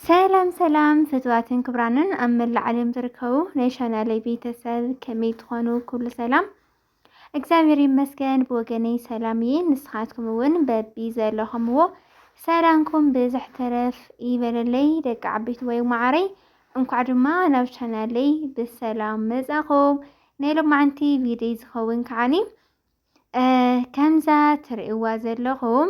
ሰላም ሰላም ፍትዋትን ክብራንን ኣብ መላእ ዓለም ዝርከቡ ናይ ቻናለይ ቤተሰብ ከመይ ትኾኑ? ኩሉ ሰላም እግዚኣብሔር ይመስገን ብወገነይ ሰላም እየ። ንስኻትኩም እውን በቢ ዘለኹምዎ ሰላምኩም ብዝሕ ተረፍ ይበለለይ ደቂ ዓበይቲ ወይ ማዓረይ። እንኳዕ ድማ ናብ ቻናለይ ብሰላም መጻኹም። ናይ ሎማዓንቲ ቪድዮ ዝኸውን ከዓኒ ከምዛ ትርእይዋ ዘለኹም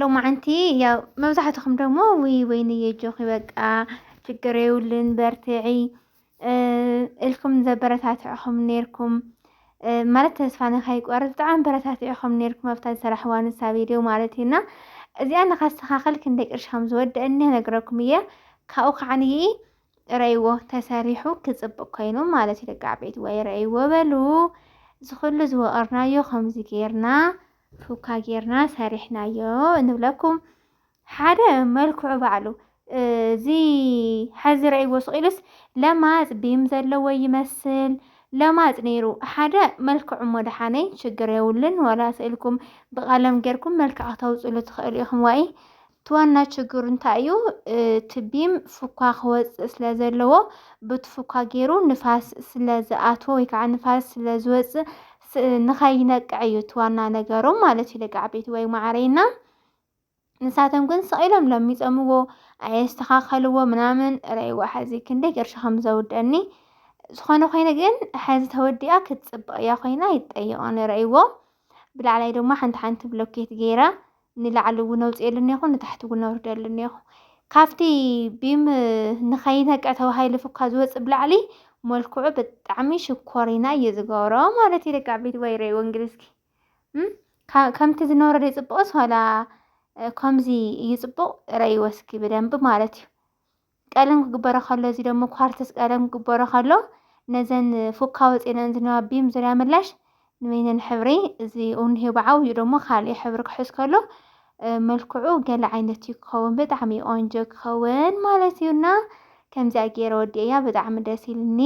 ሎማዓንቲ ያው መብዛሕትኹም ደግሞ ውይ ወይንየ ጆኺ በቃ ችግር የብሉን በርትዒ እልኩም ዘበረታትዕኹም ነይርኩም ማለት ተስፋ ንኸይቆርፅ ብጣዕሚ በረታትዕኹም ነይርኩም ኣብታ ዝሰራሕዋ ንሳ ቪድዮ ማለት እዩና እዚኣ ንኸስተኻኸል ክንደይ ቅርሺ ከም ዝወደአኒ ነግረኩም እየ ካብኡ ከዓንይ ረእይዎ ተሰሪሑ ክፅብቅ ኮይኑ ማለት እዩ ደቂ ዓበይቲ ወይ ረእይዎ በሉ ዝኹሉ ዝወቐርናዮ ከምዚ ጌርና ፉካ ጌርና ሰሪሕናዮ ንብለኩም ሓደ መልክዑ ባዕሉ እዚ ሐዚ ረእይዎ ስቂሉስ ለማፅ ቢም ዘለዎ ይመስል ለማፅ ነይሩ ሓደ መልክዑ እሞ ደሓነይ ችግር የብሉን ዋላ ስእልኩም ብቀለም ጌርኩም መልክዕ ክተውፅሉ ትኽእሉ ኢኹም ዋኢ እቲ ዋና ችግሩ እንታይ እዩ እቲ ቢም ፉኳ ክወፅእ ስለ ዘለዎ ብቲ ፉኳ ገይሩ ንፋስ ስለ ዝኣትዎ ወይ ከዓ ንፋስ ስለ ዝወፅእ ንኸይነቅዕ እዩ እቲ ዋና ነገሮም ማለት እዩ ደቂ ዓበይቲ ወይ ማዕረይና ንሳቶም ግን ስቂሎም ለሚፀምዎ ኣየስተኻኸልዎ ምናምን ረይዋ ሐዚ ክንደይ ቅርሺ ከም ዘውደኒ ዝኾነ ኮይኑ ግን ሐዚ ተወዲኣ ክትፅብቕ እያ ኮይና ይጠይቐን ረይዎ ብላዕላይ ድማ ሓንቲ ሓንቲ ብሎኬት ገይራ ንላዕሊ እውን ኣውፅኤሉ እኒኹ ንታሕቲ እውን ኣውርደሉ እኒኹ ካብቲ ቢም ንኸይነቅዕ ተባሂሉ ፍኳ ዝወፅእ ብላዕሊ መልክዑ ብጣዕሚ ሽኮሪና እዩ ዝገብሮ ማለት እዩ ደቂ ዓበይቲ ወይ ረእይዎ እንግዲህ እስኪ ከምቲ ዝነበረ ዶ ይፅቡቕስ ዋላ ከምዚ እዩ ፅቡቕ ረእይዎ እስኪ ብደንቢ ማለት እዩ ቀለም ክግበሮ ከሎ እዚ ደሞ ኳርተስ ቀለም ክግበሮ ከሎ ነዘን ፉካ ወፂኤን ዝነበራ ቢም ዙርያ ምላሽ ንበይነን ሕብሪ እዚ እንሄ ብዓብዩ ደሞ ካልእ ሕብሪ ክሕዝ ከሎ መልክዑ ገለ ዓይነት እዩ ክኸውን ብጣዕሚ ቆንጆ ክኸውን ማለት እዩ እና ከምዚኣ ገይረ ወዲኤያ ብጣዕሚ ደስ ኢልኒ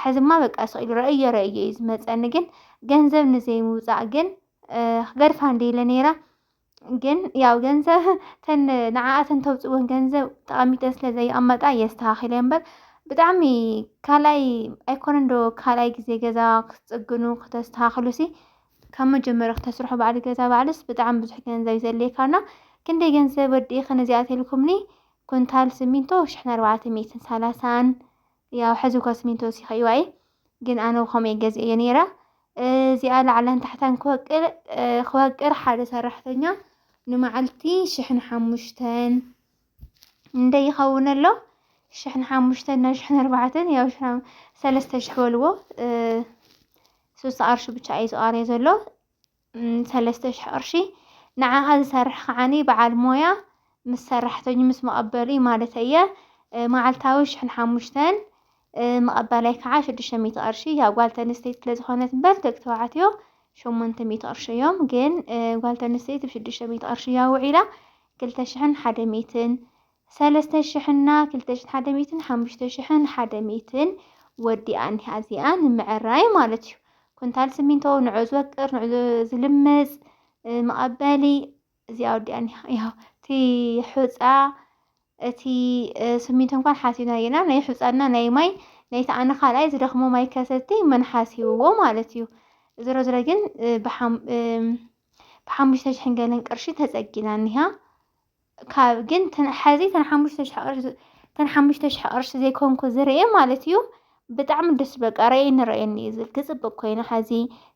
ሕዝማ በቃ ስቂሉ ረእዮ ረእዮ እዩ ዝመፀኒ ግን ገንዘብ ንዘይምውፃእ ግን ክገድፋ እንደ ኢለ ነይራ ግን ያው ገንዘብ ተን ንዓኣ ተን ተውፅወን ገንዘብ ጠቐሚተን ስለ ዘይቐመጣ የስተኻኺለ እምበር ብጣዕሚ ካልኣይ ኣይኮነን ዶ ካልኣይ ግዜ ገዛ ክትፅግኑ ክተስተኻኽሉ ሲ ካብ መጀመርያ ክተስርሑ ባዕሊ ገዛ ባዕልስ ብጣዕሚ ብዙሕ ገንዘብ ዘድልየካና ክንደይ ገንዘብ ወዲእኽን እዚኣ ተልኩምኒ ኩንታል ስሚንቶ ሽሕን ኣርባዕተ ሚእትን ሰላሳን ያው ሐዚ እኳ ስሚንቶ ወሲኸይዋ እየ ግን ኣነ ብኸምኡ እየ ገዚኤዮ ነይረ እዚኣ ላዕላን ታሕታን ክወቅል ክወቅር ሓደ ሰራሕተኛ ንመዓልቲ ሽሕን ሓሙሽተን እንደ ይኸውን ኣሎ ሽሕን ሓሙሽተን ናብ ሽሕን ኣርባዕተን ያው ሽሕን ሰለስተ ሽሕ በልዎ ሶስተ ቅርሺ ብቻ እዩ ዝቐርዮ ዘሎ ሰለስተ ሽሕ ቅርሺ ንዓኣ ዝሰርሕ ከዓኒ በዓል ሞያ ምስ ሰራሕተኙ ምስ መቐበሉ እዩ ማለት እየ መዓልታዊ ሽሕን ሓሙሽተን መቐበላይ ከዓ ሽዱሽተ ሚእቲ ቅርሺ ያው ጓል ተንስተይቲ ስለዝኾነት እምበር ደቂ ተባዕትዮ ሸሞንተ ሚእቲ ቅርሺ እዮም ግን ጓል ተንስተይቲ ብሽዱሽተ ሚእቲ ቅርሺ እያ ውዒላ ክልተ ሽሕን ሓደ ሚእትን ሰለስተ ሽሕን እና ክልተ ሽሕን ሓደ ሚእትን ሓሙሽተ ሽሕን ሓደ ሚእትን ወዲኣ እኒሃ እዚኣ ንምዕራይ ማለት እዩ። ኩንታል ስሚንቶ ንዑ ዝወቅር ንዑ ዝልምፅ መቐበሊ እዚኣ ወዲኣ እኒሃ ያው እቲ ሑፃ እቲ ስሚንቶ እንኳን ሓሲብና ጌና ናይ ሑፃና ናይ ማይ ናይቲ ኣነ ካልኣይ ዝደኽሞ ማይ ከሰቲ መን ሓሲብዎ ማለት እዩ። ዝሮ ዝሮ ግን ብሓሙሽተ ሽሕን ገለን ቅርሺ ተፀጊና እኒሃ ካብ ግን ሐዚ ተን ሓሙሽተ ሽሕ ቅርሺ ተን ሓሙሽተ ሽሕ ቅርሺ ዘይኮንኩ ዝርኤ ማለት እዩ ብጣዕሚ ደስ በቃ ረኤኒ ረኤኒ እዩ ዝብል ክፅብቅ ኮይኑ ሐዚ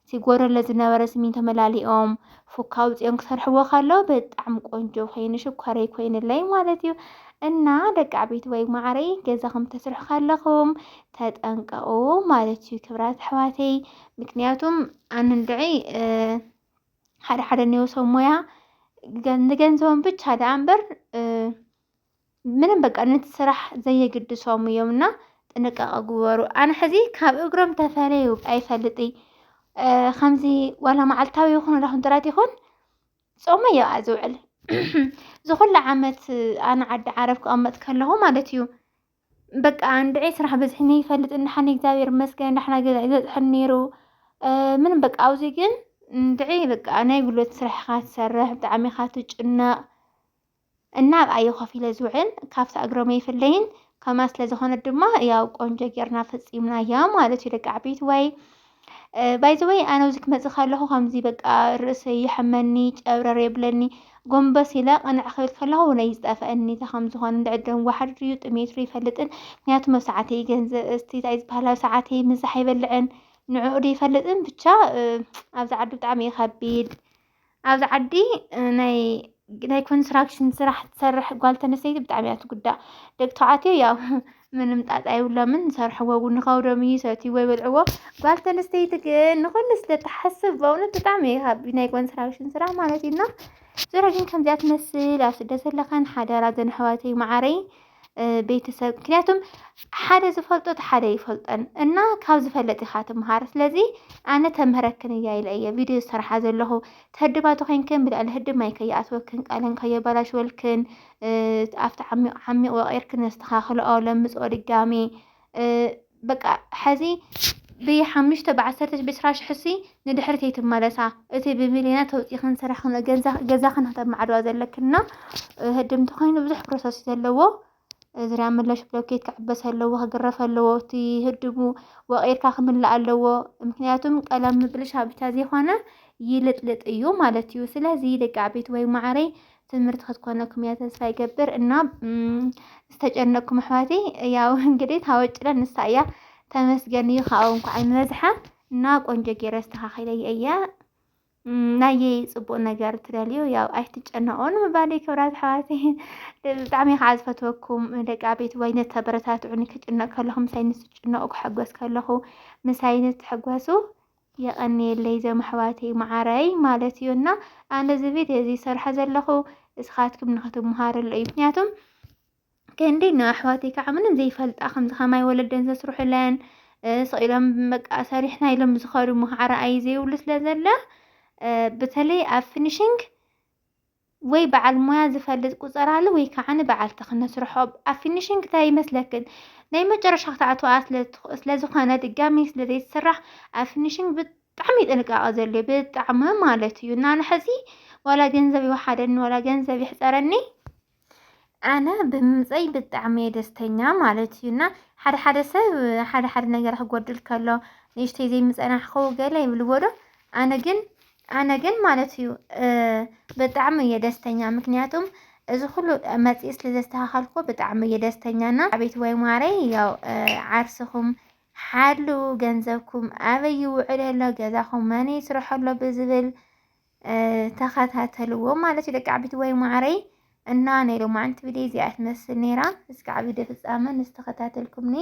ሲጎረለ ዝነበረ ስሚንቶ መላሊኦም ፉካ ውፅኦም ክሰርሕዎ ከለው ብጣዕሚ ቆንጆ ኮይኑ ሽኮረይ ኮይንለይ ማለት እዩ እና ደቂ ዓበይቲ ወይ ማዕረይ ገዛኹም ተስርሑ ከለኹም ተጠንቀቁ ማለት እዩ ክብራት ኣሕዋተይ ምክንያቱም ኣንድዒ ሓደ ሓደ እኔው ሰብ ሞያ ንገንዘቦም ብቻ ደኣ እምበር ምንም በቃ ነቲ ስራሕ ዘየግድሶም እዮም እና ጥንቃቐ ግበሩ። ኣነ ሕዚ ካብ እግሮም ተፈለዩ ኣይፈልጥ ከምዚ ዋላ መዓልታዊ ይኹን ዳኹን ጥራት ይኹን ጾመ እዮ ዝውዕል ዝኹሉ ዓመት ኣነ ዓዲ ዓረብ ክቐመጥ ከለኹ ማለት እዩ በቃ እንድዒ ስራሕ በዝሕኒ ይፈልጥ እንድሓኒ እግዚኣብሔር ይመስገን ዳሕና ገዛይ ዝበፅሐኒ ነይሩ ምንም በቃ ኣብዚ ግን እንድዒ በቃ ናይ ጉልበት ስራሕ ኢኻ ትሰርሕ ብጣዕሚ ኢኻ ትጭነቕ እና ኣብኣ እየ ኮፍ ኢለ ዝውዕል ካብቲ እግሮም ኣይፍለይን ከምኣ ስለ ዝኾነት ድማ ያው ቆንጆ ጌርና ፈፂምናያ ማለት እዩ ደቂ ዓበይቲ ወይ ባይ ዘ ወይ ኣነ ኣብዚ ክመጽእ ከለኹ ከምዚ በቃ ርእሰይ ይሕመኒ ጨብረር የብለኒ ጎንበስ ኢለ ቅንዕ ክብል ከለኹ እውን እዩ ዝጠፍአኒ እንታይ ከም ዝኾነ እንድዕድ ደም ዋሕድ ድዩ ጥሜት ድዩ ይፈልጥን ምክንያቱ መብ ሰዓተይ ገንዘብ እስቲ እንታይ ዝበሃል ኣብ ሰዓተይ ምዛሕ ኣይበልዕን ንዕኡ ዶ ይፈልጥን ብቻ ኣብዚ ዓዲ ብጣዕሚ እዩ ከቢድ ኣብዚ ዓዲ ናይ ናይ ኮንስትራክሽን ስራሕ ትሰርሕ ጓል ተነስተይቲ ብጣዕሚ እያ ትጉዳእ። ደቂ ተባዕትዮ ያው ምንም ጣጣ የብሎምን ዝሰርሕዎ እውን ንኸብዶም እዩ ይሰትይዎ ይበልዕዎ። ጓል ተነስተይቲ ግን ንኹሉ ስለ ትሓስብ በእውነት ብጣዕሚ እዩ ካብ ናይ ኮንስትራክሽን ስራሕ ማለት እዩ እና ዞረ ግን ከምዚኣ ትመስል ኣብ ስደት ዘለኽን ሓደራ ዘን ኣሕዋተይ መዓረይ ቤተሰብ ምክንያቱም ሓደ ዝፈልጦ እቲ ሓደ ይፈልጠን እና ካብ ዝፈለጥ ኢኻ ትምሃር ስለዚ ኣነ ተምህረክን እያ ኢለ እየ ቪድዮ ዝሰርሓ ዘለኹ ተህድባቶ ኮይንክን ብልዕሊ ህድብ ማይ ከየኣትወክን ቃለን ከየበላሽወልክን ኣብቲ ዓሚቕ ዓሚቕ ወቂርክን ነስተኻኽልኦ ለምፅኦ ድጋሜ በቃ ሐዚ ብ ሓሙሽተ ብ ዓሰርተ ብ ዕስራ ሽሕ ሲ ንድሕሪት ኣይትመለሳ እቲ ብ ሚልዮናት ተውፂእኽን ሰሪሕኽን ገዛኽን ክተማዕድዋ ዘለክን እና ህድምቲ ኮይኑ ብዙሕ ፕሮሰስ እዩ ዘለዎ እዝርያ ምለሽ ብሎኬት ክዕበስ ኣለዎ ክግረፍ ኣለዎ እቲ ህድሙ ወቒርካ ክምላእ ኣለዎ ምክንያቱም ቀለም ምብልሻ ብቻ ዘይኮነ ይልጥልጥ እዩ ማለት እዩ ስለዚ ደቂ ዓበይቲ ወይ ማዕረይ ትምህርቲ ክትኮነኩም እያ ተስፋ ይገብር እና ዝተጨነቅኩም ኣሕዋተይ ያው እንግዲህ ታወጭለ ንሳ እያ ተመስገን እዩ ካብኡ እንኳዕ ንበዝሓ እና ቆንጆ ገይረ ኣስተኻኺለየ እያ ናየይ ፅቡቅ ነገር ትደልዩ ያው ኣይትጨነቁ ንምባለይ ክብራት ኣሕዋተይ ብጣዕሚ ከዓ ዝፈትወኩም ደቂ ኣቤት ወይ ነተበረታትዑኒ ክጭነቅ ከለኹ ምሳይ ንስጭነቁ ክሕጎስ ከለኹ ምሳይ ንትሕጎሱ የቐንየለይ ዘመሕዋተይ መዓረይ ማለት እዩ እና ኣነ እዚ ቪድዮ እዚ ዝሰርሖ ዘለኹ እስኻትኩም ንክትመሃርሉ እዩ ምክንያቱም ክንዲ ንኣሕዋተይ ከዓ ምንም ዘይፈልጣ ከምዚ ከማይ ወለደን ዘስርሑለን ስቂሎም በቃ ሰሪሕና ኢሎም ዝኸዱ መዓረ ኣይ ዘይብሉ ስለ ዘለ በተለይ ኣብ ፊኒሽንግ ወይ በዓል ሞያ ዝፈልጥ ቁጸራሉ ወይ ከዓ ንበዓልቲ ክነስርሖ ኣብ ፊኒሽንግ እንታይ ይመስለክን ናይ መጨረሻ ክትኣትዋ ስለ ዝኾነ ድጋሚ ስለ ዘይትስራሕ ኣብ ፊኒሽንግ ብጣዕሚ ጥንቃቐ ዘድልዮ ብጣዕሚ ማለት እዩ እና ንሕዚ ዋላ ገንዘብ ይወሓደኒ ዋላ ገንዘብ ይሕፀረኒ ኣነ ብምምፀይ ብጣዕሚ እየ ደስተኛ ማለት እዩ እና ሓደ ሓደ ሰብ ሓደ ሓደ ነገር ክጎድል ከሎ ንእሽተይ ዘይምፀናሕኹ ገለ ይብልዎ ዶ ኣነ ግን ኣነ ግን ማለት እዩ ብጣዕሚ እየ ደስተኛ ምክንያቱም እዚ ኩሉ መፅኢ ስለ ዘስተኻኸልኩ ብጣዕሚ እየ ደስተኛ እና ኣቤት ወይ ማረይ ያው ዓርስኹም ሓሉ ገንዘብኩም ኣበይ ይውዕል ኣሎ ገዛኹም መን ይስርሖ ኣሎ ብዝብል ተኸታተልዎ ማለት እዩ ደቂ ዓቢት ወይ ማረይ እና ናይ ሎማዓንቲ ቪድዮ እዚኣ ትመስል ነይራ እስካዕ ቪድዮ ፍፃመ ንዝተኸታተልኩምኒ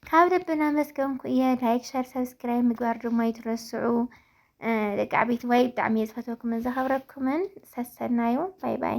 ካብ ልቢ እናመስገንኩ እየ ላይክ ሸር ሰብስክራይብ ምግባር ድማ ይትረስዑ ደቂ ዓበይቲ ዋይ ብጣዕሚ እየ ዝፈትወኩምን ዘኸብረኩምን ሰሰናዩ ባይ ባይ